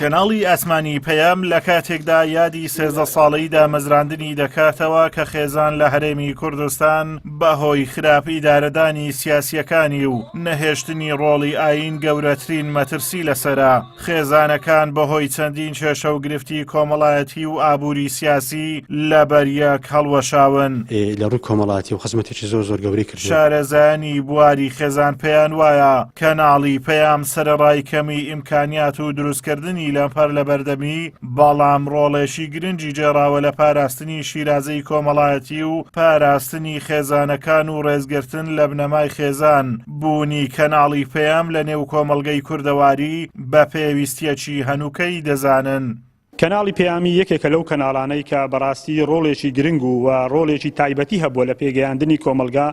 کەناڵی ئاسمانی پەیام لە کاتێکدا یادی سێزدە ساڵەی دامەزراندنی دەکاتەوە کە خێزان لە هەرێمی کوردستان بەهۆی خراپ ئیدارەدانی سیاسیەکانی و نەهێشتنی ڕۆڵی ئاین گەورەترین مەترسی لەسرە خێزانەکان بەهۆی چەندین کێشە و گرفتی کۆمەڵایەتی و ئابووری سیاسی لە بەریەک هەڵوەشاون لە ڕووی کۆمەڵاتی و خزمەتێکی زۆر زۆر گەوری شارەزایانی بواری خێزان پێیان وایە کەناڵی پەیام سەرەڕای کەمی ئیمکانیات و دروستکردنی لەمپەر لە بەردەمی، بەڵام ڕۆڵێکی گرنگی گێڕاوە لە پاراستنی شیرازەی کۆمەڵایەتی و پاراستنی خێزانەکان و ڕێزگرتن لە بنەمای خێزان، بوونی کەناڵی پەیام لە نێو کۆمەڵگەی کوردەواری بە پێویستییەکی هەنووکەیی دەزانن. کەناڵی پەیامی یەکێکە لەو کەناڵانەی کە بەڕاستی ڕۆڵێکی گرنگ و وە ڕۆڵێکی تایبەتی هەبووە لە پێگەیاندنی کۆمەڵگا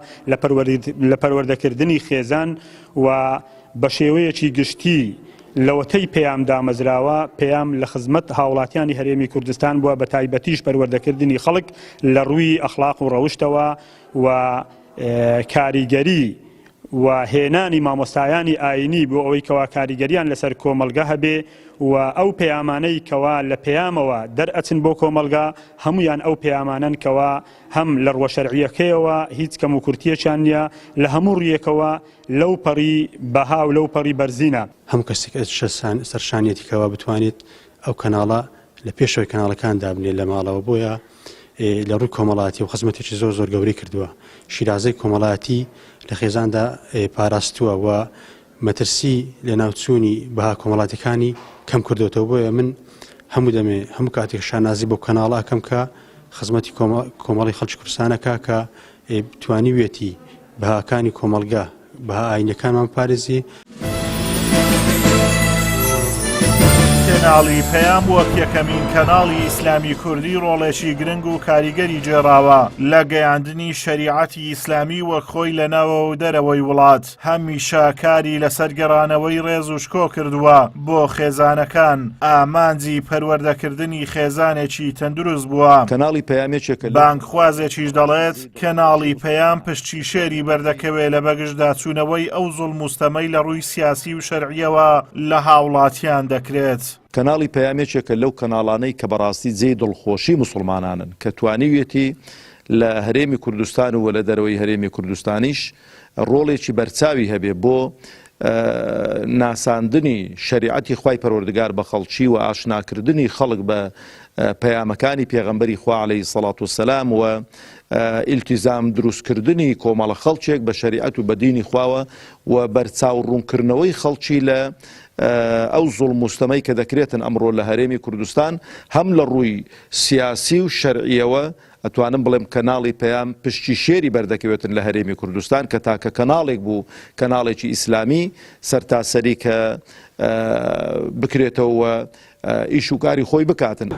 لە پەروەردەکردنی خێزان و بە شێوەیەکی گشتی لەوەتەی پەیام دامەزراوە پەیام لە خزمەت هاوڵاتیانی هەرێمی کوردستان بووە بە تایبەتیش پەروەردەکردنی خەڵک لە ڕووی ئەخڵاق و ڕەوشتەوە و کاریگەری و هێنانی مامۆستایانی ئاینی بۆ ئەوەی کەوا کاریگەریان لەسەر کۆمەڵگە هەبێ و ئەو پەیامانەی کەوا لە پەیامەوە دەرئەچن بۆ کۆمەڵگە هەموویان ئەو پەیامانەن کەوا هەم لە ڕووە شەرعیەکەیەوە هیچ کەم و کورتیەکیان نیە لە هەموو ڕویەکەوە لەو پەڕی بەها و لەو پەڕی بەرزینە. هەموو کەسێک ئەرشە سەرشانیەتی کەوا بتوانێت ئەو کەناڵە لە پێشەوەی کەناڵەکان دابنێت لە ماڵەوە بۆیە، لە ڕووی کۆمەڵاتی و خزمەتێکی زۆر زۆر گەورەی کردووە شیرازەی کۆمەڵاتی لە خێزاندا پاراستووە و مەترسی لە ناوچوونی بەها کۆمەڵاتەکانی کەم کردوێتەوە بۆیە من هەموو دەمێ هەموو کاتێک شانازی بۆ کەناڵاکەم کە خزمەتی کۆمەڵی خەڵکی کوردستانەکە کە توانیوێتی بەهاکانی کۆمەڵگا، بەها ئایینیەکانمان بپارێزی. کەناڵی پەیام وەک یەکەمین کەناڵی ئیسلامی کوردی ڕۆڵێکی گرنگ و کاریگەری گێڕاوە لە گەیاندنی شەریعەتی ئیسلامی وەک خۆی لە ناوەوە و دەرەوەی وڵات، هەمیشە کاری لەسەر گەڕانەوەی ڕێز و شکۆ کردووە بۆ خێزانەکان، ئامانجی پەروەردەکردنی خێزانێکی تەندروست بووە. کەناڵی پەیام یەکێکە لەو. بانگخوازێکیش دەڵێت، کەناڵی پەیام پشتی شێری بەردەکەوێ لە بەگژدا چوونەوەی ئەو زوڵم و ستەمەی لە ڕووی سیاسی و شەرعییەوە لە هاوڵاتیان دەکرێت. کەناڵی پەیام یەکێکە لەو کەناڵانەی کە بەڕاستی جێی دڵخۆشی موسڵمانانن کە توانیویەتی لە هەرێمی کوردستان و لە دەرەوەی هەرێمی کوردستانیش ڕۆڵێکی بەرچاوی هەبێ بۆ ناساندنی شەریعەتی خوای پەروەردگار بە خەڵکی و ئاشناکردنی خەڵک بە پەیامەکانی پێغەمبەری خوا عەلەیهی سەڵات و سەلام و ئیلتیزام دروستکردنی کۆمەڵە خەڵکێک بە شەریعەت و بە دینی خواوە و بەرچاو ڕوونکردنەوەی خەڵکی لە ئەو زوڵ مستەمەی کە دەکرێتن ئەمڕۆ لە هەرێمی کوردستان هەم لە ڕووی سیاسی و شەرعیەوە ئەتوانم بڵێم کەناڵی پەیام پشکی شێری بەردەکەوێتن لە هەرێمی کوردستان کە تاکە کەناڵێک بوو کەناڵێکی ئیسلامی سەرتاسەری کە بکرێتەوە و ئیش و کاری خۆی بکاتن.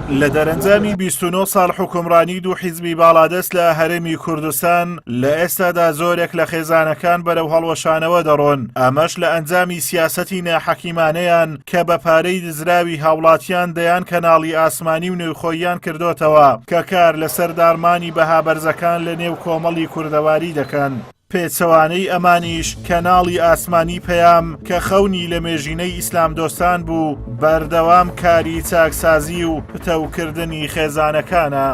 لە دەرەنجامی 29 ساڵ حکومڕانی دوو حیزبی باڵادەست لە هەرێمی کوردستان لە ئێستادا زۆرێک لە خێزانەکان بەرەو هەڵوەشانەوە دەڕۆن ئەمەش لە ئەنجامی سیاسەتی ناحەکیمانەیان کە بە پارەی دزراوی هاوڵاتیان دەیان کەناڵی ئاسمانی و نێوخۆییان کردۆتەوە کە کار لەسەر داڕمانی بەها بەرزەکان لە نێو کۆمەڵی کوردەواری دەکەن. پێچەوانەی ئەمانیش کەناڵی ئاسمانی پەیام کە خەونی لەمێژینەی ئیسلامدۆستان بوو، بەردەوام کاری چاکسازی و پتەوکردنی خێزانەکانە.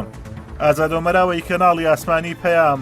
ئازادۆمەراوەی کەناڵی ئاسمانی پەیام.